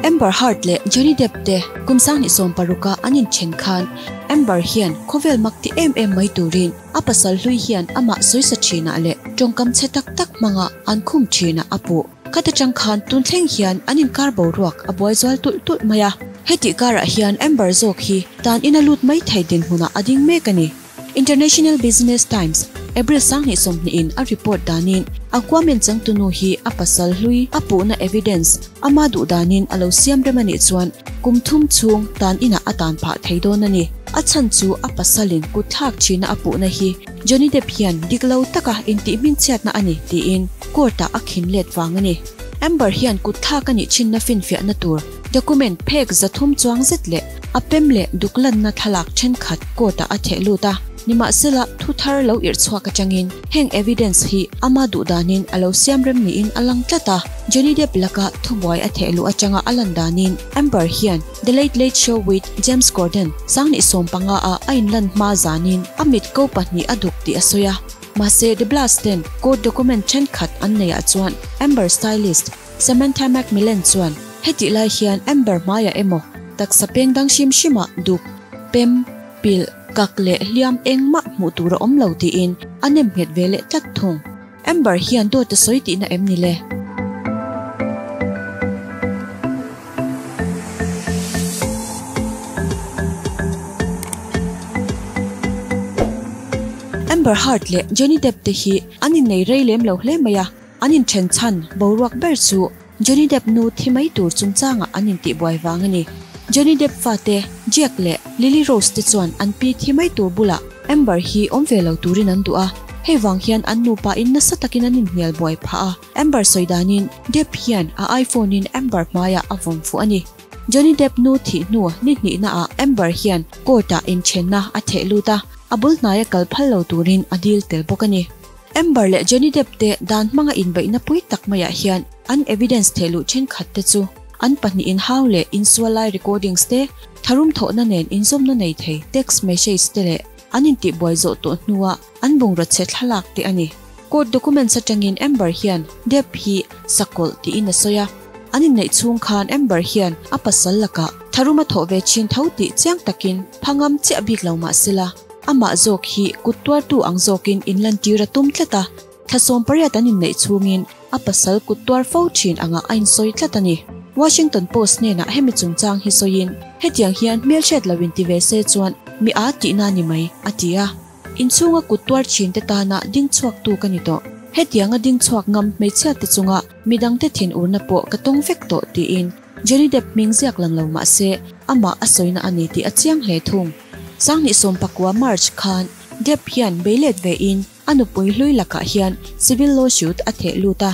Amber Heard leh Johnny Depp te kum sang ni sawm paruka an inthen khan Amber hian khawvel mak ti em em mai turin a pasal hlui hian amah sawisa thinah leh tawngkam chhe tak tak hmanga an khum thinah a puh khat atang khan tun thleng hian an inkar boruak a buai zual tulh tulh mai a. Hetih karah hian Amber zawk hi tanin a lut mai thei dinhmunah a ding mek a ni. International Business Times, April sanghnih sawmhnihin a report danin, a Kuamen changtunu hi a pasal hlui a puhna evidence ama duh danin a lo siam rem a nih chuan kum thum chhung tan inah a tan phah thei dawn a ni. A chhan chu a pasalin kut thlak thinna a puhna hi Johnny Depp hian dik lo taka intih hmingchhiatna a ni tiin court-ah a khin let vang a ni. Amber hian kut thlak a nih thinna finfiahna tur Document phek zathum chuang zet leh a pem leh duklanna thlalak thenkhat court-ah a thehlut a, nimahsela thu thar lo irh chhuak atangin heng evidence hi ama duh danin a lo siam rem niin a lang tlat a. Johnny Depp laka thubuai a theh luh atanga a lan danin Amber hian The Late Late Show with James Corden sangni sawm panga ah a inlan hma zanin a mit ko pahnih a duk tih a sawi a. Mahse, The Blast ten court document thenkhat an nei ah chuan Amber stylist, Samantha Macmillan chuan hetih lai hian Amber hmaiah emaw, taksa peng dang hrim hrima duk, pem, pilh, kak leh hliam eng mah hmuh tur a awm lo tiin a nem nghet ve leh tlat thung. Amber hian dawt a sawi tihna em ni le? Amber Heard leh Johnny Depp te hi an innei rei lem lo hle mai a. An inthen chhan boruak ber chu Johnny Depp nu thi mai tur chungchangah an intih buai vang a ni. Johnny Depp fate Jack leh Lily Rose te chuan an pi thi mai tur bulah Amber hi awm ve lo turin an duh a, hei vang hian an nupa in nasa takin an inhnial buai phah a. Amber sawi danin Depp hian a iPhone in Amber hmaiah a vawm fuh a ni. Johnny Depp nu thih hnu ni hnihnaah Amber hian court-ah inthenna a theh lut a, a bul hnaia kal phal lo turin a dil tel bawk a ni. Amber leh Johnny Depp te dan hmanga inbeihna pui tak maiah hian an evidence thehluh thenkhat te chu an pahnihin hau leh insual lai recordings te, tharum thawhna nen inzawmna nei thei text message te leh an intihbuai zawh tawh hnua an bungrache thlalak te a ni. Court documents atangin Amber hian Depp hi sakawlh tiin a sawi a. An inneih chhung khan Amber hian a pasal lakah tharum a thawh ve chin tho tih chiang takin phangam chiah bik lo mah sela, amah zawk hi kut tuartu ang zawkin in lantir a tum tlat a. Thlasawm pariat an inneih chhungin a pasal kut tuar fo thin angah a insawi tlat a ni. Washington Post hnenah hemi chungchang hi sawiin, Hetiang hian hmelhriat lo inti ve se chuan mi aa tihna a ni mai, a ti a. Inchhunga kut tuar thin te tana ding chhuak tu ka ni tawh. Hetianga ding chhuak ngam hmeichhia te chunga midang te thin urna pawh ka tawng vek tawh, tiin Johnny Depp hming ziak lang lo mahse amah a sawina a ni tih a chiang hle thung. Sangni sawmpakua, March, khan Depp hian beilet vein a nupui hlui lakah hian civil lawsuit a theh lut a,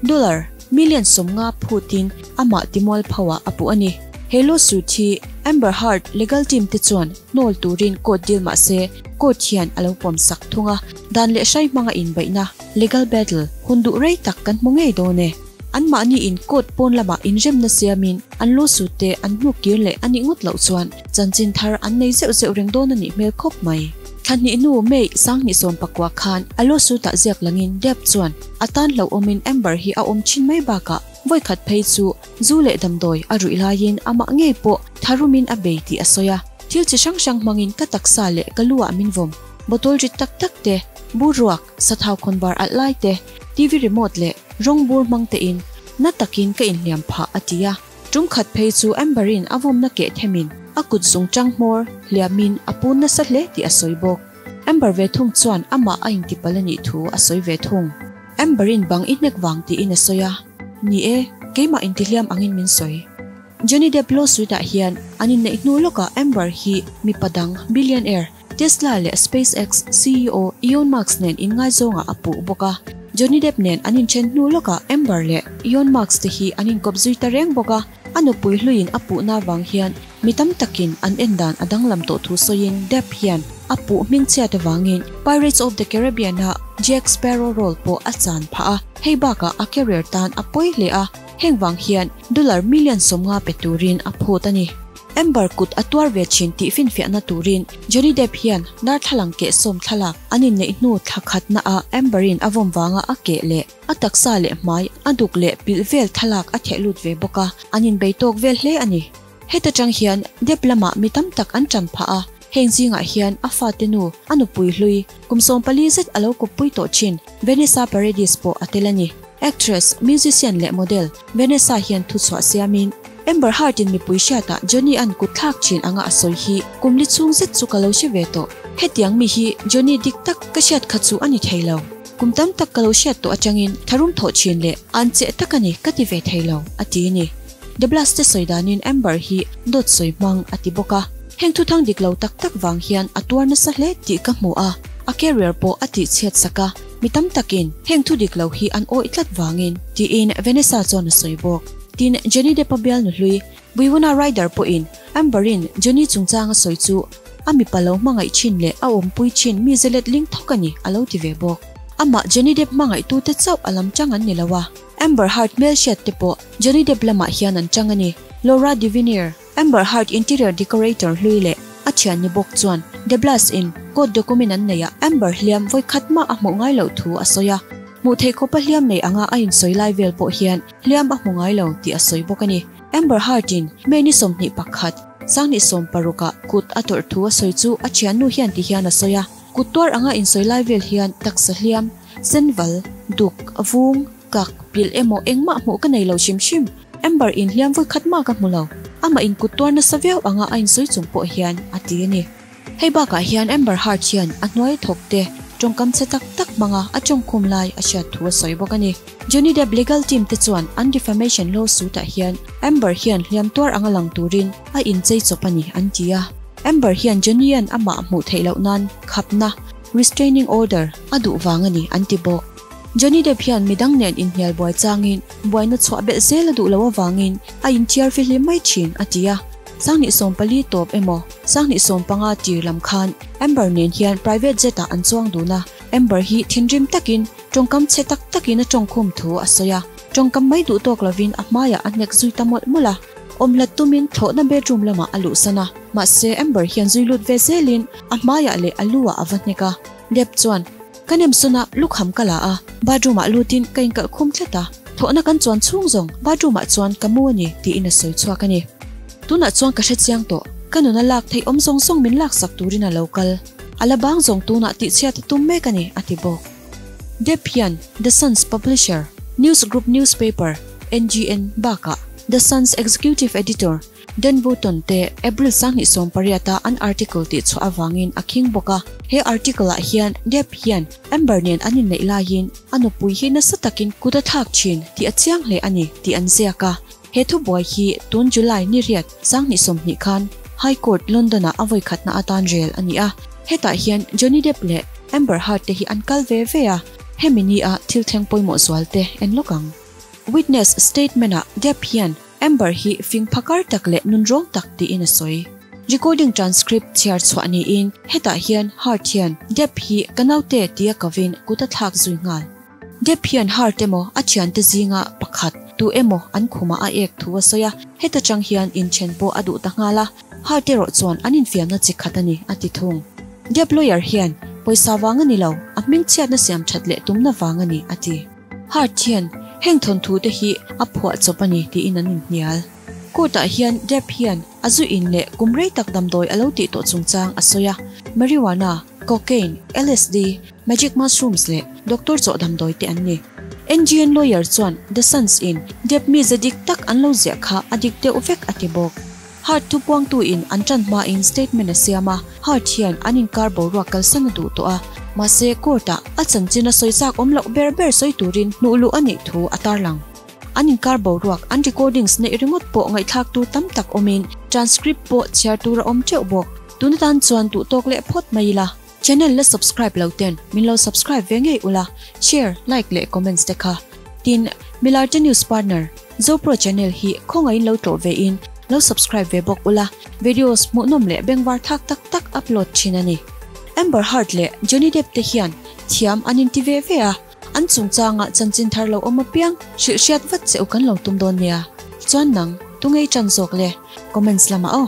dollar million sawmnga phutin amah timual phauhah a puh a ni. He lawsuit hi Amber Heard legal team te chuan Nawl turin court deal mah se court hian a lo pawmsak thung a, dan leh hrai hmanga inbaihna, legal battle, hun duh rei tak kan hmu ngei dawn e. Anmahni in court pawn lamah inremna siamin an lawsuit te an hnuk kir leh a nih ngawt loh chuan chanchin thar an nei zeuh zeuh reng dawn a nih hmel khawp mai. Thlahnih nu May Sanghnisawm pakua khan a lawsuit ah ziak langin Depp chuan a tan hlauhawmin Amber hi a awm thin mai bakah vawikhat phei chu Zu leh damdawi a ruih laiin amah ngei pawh tharu min a bei tih a sawi a, thil chi hrang hrang hmangin ka taksa leh ka lu ah min vawm. Bottle rit tak tak te, bur ruak, sathau khawnvar alh lai te, TV remote leh rawng bur hmang te in na takin ka inhliam phah, a ti a. Tum khat phei chu Amber-in a vawmna keh themin a kut zung ṭanghmawr hliamin a pun nasa hle tih a sawi bawk. Amber ve thung chuan amah a intipal a nih thu a sawi ve thung. Amber-in bang i hnek vang tiin a sawi a. Ni e, keimah intihliam angin min sawi. Johnny Depp lawsuit ah hian an inneih hnu lawkah Amber hi mipa dang, billionaire, Tesla leh SpaceX CEO Eon Musk nen inngaizawngah a puh bawk a. Johnny Depp nen an inthen hnu lawkah Amber leh Eon Musk te hi an inkawp zui ta reng bawk a. A nupui hluin a puhna vang hian mi tam takin an en dan a danglam tawh thu sawiin Depp hian a puh hmingchhiat avangin Pirates of the Caribbean-ah Jack Sparrow role pawh a chan phah a, hei bakah a career tan a pawi hle a, heng vang hian dollar million sawmnga pe turin a phut a ni. Amber kut a tuar ve thin tih finfiahna turin Johnny Depp hian darthlalang keh sawm thlalak an inneih hnu thlakhatna ah Amber-in a vawmvanga a keh leh, A taksa leh hmai, a duk leh pilh vel thlalak a theh lut ve bawk a, an inbei tawk vel hle a ni. Heta tang hian Dep lama mi tam tak an tan phah a, heng zingah hian a fate nu, a nupui hlui, kum sawm pali zet a lo kawppui tawh thin Vanessa Paradis pawh a tel a ni. Actress, musician leh model Vanessa hian thu chhuah siamin, Amber Heard-in mipui hriatah Johnny-a'n kut thlak thin anga a sawi hi kum li chhung zet chu ka lo hre ve tawh. Hetiang mi hi Johnny dik tak ka hriat kha chu a ni thei lo. Kum tam tak ka lo hriat tawh atangin thlarum thawh thin leh an cheh tak a ni ka ti ve thei lo, a ti a ni. De Blas che sawi danin Amber hi dawt sawi hmang a ti bawk a, heng thuthang dik lo tak tak vang hian a tuar nasa hle tih ka hmu a, a career pawh a tih chhiat sak a, mi tam takin heng thu dik lo hi an awih tlat vangin. Tiin Vanessa chuan a sawi bawk. Tin, Johnny Depp-a bialnu hlui. Buiwana rider pawhin Amber-in Jenny chungchanga sawi chu a mipa lo hmangaih thin leh a awmpui thin mi zelet ling thawk a ni a lo ti ve bawk. Amah Jenny Depp hmangaihtu-te chauh a lam chang an ni lo a, Amber Heard hmelhriat-te pawh Jenny Depp lamah hian an chang a ni. Laura Devenier, Amber Heard interior decorator hlui leh a thianni bawk chuan De Blas-in court document an neiah Amber hliam vawikhat mah a hmuh ngai loh thu a sawi a. Hmuh theih khawpa hliam neih anga a insawi lai vel pawh hian Liam a hmu ngai lo tih a sawi bawk a ni. Amber Heard-in Mehni sawmhnih pakhat, Sangni sawm paruk-a kut a tawrh thu a sawi chu a thiannu hian ti hian a sawi a. Kut tuar anga insawi lai vel hian taksa hliam, senval, duk, vung, kak, pilh emaw engmah hmuh ka nei lo hrim hrim. Amber-in hliam vawi khat mah ka hmu lo. Amahin kut tuar nasa viau anga a insawi chung pawh hian a ti a ni. Hei bakah hian Amber Heard hian a hnuai thawk te tawngkam che tak tak hmanga a tawng khum lai a hriat thu a sawi bawk a ni. Johnny Depp legal team te chuan an defamation lawsuit ah hian Amber hian hliam tuar anga lang turin a inchei chawp a ni an ti a. Amber hian Johnny-a'n amah hmuh theih loh nan khapna, restraining order, a duh vang a ni an ti bawk. Johnny Depp hian midang nen inhnial buai changin buaina chhuah belh zel a duh loh avangin a inthiar fihlim mai thin a ti a. Sanghnih sawm pali tawp emaw sanghnih sawm panga tir lam khan Amber nen hian private jet ah an chuang dun a. Amber hi thinrim takin tawngkam chhe tak takin a tawngkhum thu a sawi a, tawngkam mai duh tawk lovin a hmaiah a hnek zui ta mawlh mawlh a. Awmhlat tumin thlawhna bedroom lamah a luhsan a, mahse Amber hian zui lut ve zelin a hmaiah leh a luah a va hnek a. Depp chuan. Ka nem sawn a, lukham ka la a, bathroom ah lut in ka inkalh khum tlat a, thawhna kan chuan chhung zawng, bathroom ah chuan ka mu a ni tiin a sawi chhuak a ni. Tunah chuan ka hre chiang tawh, ka nuna lak theih awm zawng zawng min lak sak turin a lo kal, a la bang zawng tunah tihchhiat a tum mek a ni, a ti bawk. Deb hian The Sun's publisher, News Group Newspaper, NGN, bakah The Sun's executive editor, Dan Button te April sang hnih sawm pariata an article tih chhuah avangin a khing bawk a. He article ah hian Depp hian Amber nen an inneih laiin a nupui hi nasa takin kut a thlak thin tih a chiang hle a ni tih an ziak a. He thubuai hi tun July niriat sang hnih sawm hnih khan High Court London ah a vawikhatna atan rel a ni a. Hetah hian Johnny Depp leh Amber Heard te hi an kal ve ve a. Hemi ni a thil thleng pawimawh zual te en lawk ang. Witness statement ah Depp hian. Amber hi fing pha kar tak leh nun rawng tak tiin a sawi. Recording transcript chhiar chhuah niin hetah hian Heart hian Depp hi ka naute tia ka vin kut a thlak zui nghal. Depp hian Heart emaw a thiante zinga pakhat tu emaw an khumah a ek thu a sawi a, heta tang hian inthen pawh a duh ta nghal a, Heart erawh chuan an infiamna chi khat a ni, a ti thung. Depp lawyer hian pawisa vang a ni lo, a hmingchhiatna siam that leh tumna vang a ni, a ti. Heart hian heng thawntute hi a phuah chawp a ni tiin an inhnial. Court-ah hian Depp hian a zu in leh kum rei tak damdawi a lo tih tawh chungchang a sawi a, marijuana, cocaine, LSD, magic mushrooms leh doctor chawh damdawi te an ni. NGN lawyer chuan The Suns-in Depp mi ze dik tak an lo ziah kha a dik deuh vek a ti bawk. Heart thupuangtu in an tan hma in statement a siam a, Heart hian an inkar boruak kalsan a duh tawh a, mahse court ah a chanchin a sawi chak awm loh ber ber sawi turin hnuh luh a nih thu a tarlang. An inkar boruak an recordings neih ringawt pawh ngaihthlak tur tam tak awmin transcript pawh chhiar tur a awm teuh bawk, tun atan chuan duhtawk leh phawt mai ila. Channel la subscribe lo ten min lo subscribe ve ngei ula, share, like leh comments te kha tin Milarte News Partner Zopro Channel hi khawngaihin lo tlawh ve in lo subscribe ve bawk ula, videos hmuhnawm leh bengvar thak tak tak upload thin a ni. Amber Heard leh Johnny Depp te hian thiam an inti ve ve a. An chungchangah chanchin thar lo awm apiang, hrilh hriat vat che u kan lo tum dawn nia, chuan nang tu ngei tan zawk le, comments lamah aw.